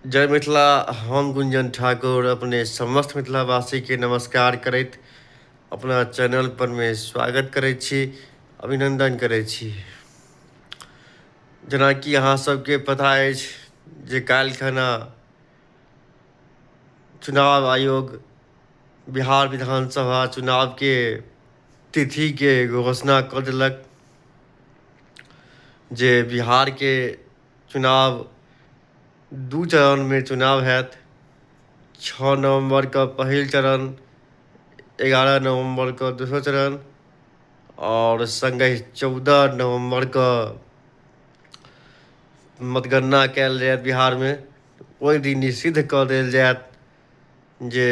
जय मिथिला हम गुंजन ठाकुर अपने समस्त मिथिलावासीके नमस्कार करैत अपना चैनल परमे स्वागत करै छी अभिनंदन करै छी जेनाकि अहाँ सबके पता अछि जे काल्हि खना चुनाव आयोग बिहार विधानसभा चुनावके तिथिके घोषणा कऽ देलक जे बिहारके चुनाव दू चरणमे चुनाव होयत छओ नवम्बरके पहिल चरण एगारह नवम्बरके दोसर चरण आओर सङ्गे चौदह नवम्बरके मतगणना कयल जायत बिहारमे ओहि दिन ई सिद्ध कऽ देल जायत जे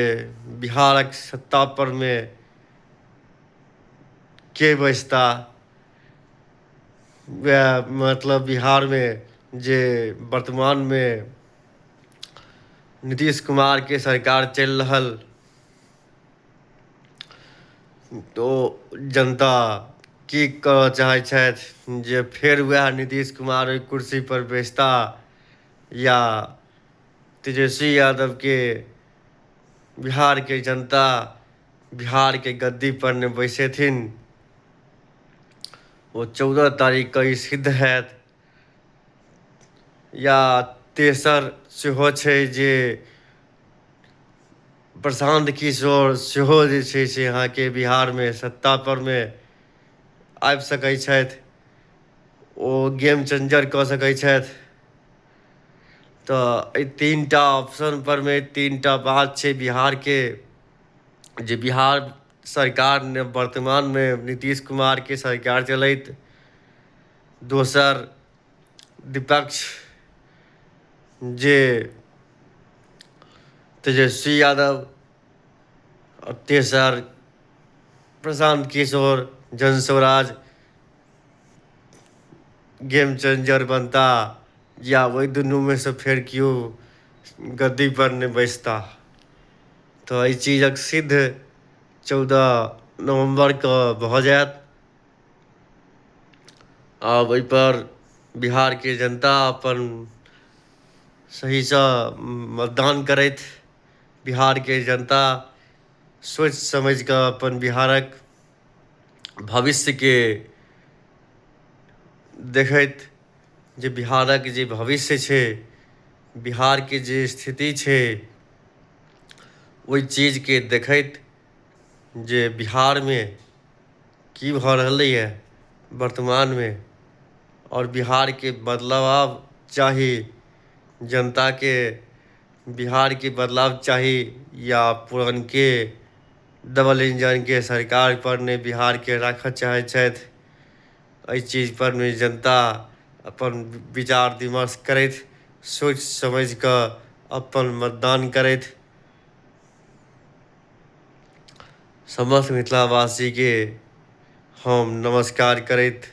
बिहारक सत्तापरमे के बैसता वएह मतलब बिहारमे जे वर्तमानमे नीतीश कुमारके सरकार चलि रहल तो जनता की करऽ चाहै छथि जे फेर वएह नीतीश कुमार ओहि कुर्सीपर बैसता या तेजस्वी यादवके बिहारके जनता बिहार के गद्दी पर ने बैसेथिन ओ चौदह तारीख के ई सिद्ध हैत या तेसर सेहो छै जे प्रशांत किशोर सेहो जे छै से अहाँके बिहारमे सत्तापरमे आबि सकै छथि ओ गेम चेंजर कऽ सकै छथि तऽ एहि तीन टा ऑप्शन परमे तीन टा बात छै बिहारके जे बिहार सरकार ने वर्तमानमे नीतीश कुमारके सरकार चलैत दोसर विपक्ष जे तेजस्वी यादव आओर तेसर प्रशांत किशोर जनस्वराज गेम चेंजर बनता या ओहि दुनूमे सँ फेर केओ गद्दीपर नहि बैसता तऽ एहि चीजक सिद्ध चौदह नवम्बरके भऽ जायत आब एहिपर बिहारके जनता अपन सहीसँ मतदान करथि बिहारके जनता सोचि समझि कऽ अपन बिहारक भविष्यके देखैत जे बिहारक जे भविष्य छै बिहारके जे स्थिति छै ओहि चीजके देखैत जे बिहारमे की भऽ रहलैए वर्तमानमे आओर बिहारके बदलाव चाही जनताके बिहारके बदलाव चाही या पुरनके डबल इंजनके सरकारपर नहि बिहारके राखय चाहै छथि एहि चीजपर मे जनता अपन विचार विमर्श करथि सोचि समझि कऽ अपन मतदान करथि समस्त मिथिलावासीके हम नमस्कार करैत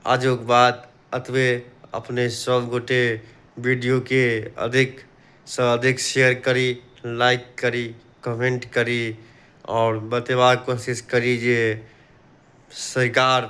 आजुक बात अतबे अपने सब गोटे वीडियो के अधिक से अधिक शेयर करी लाइक करी कमेंट करी और बतेबाक कोशिश करी जे सरकार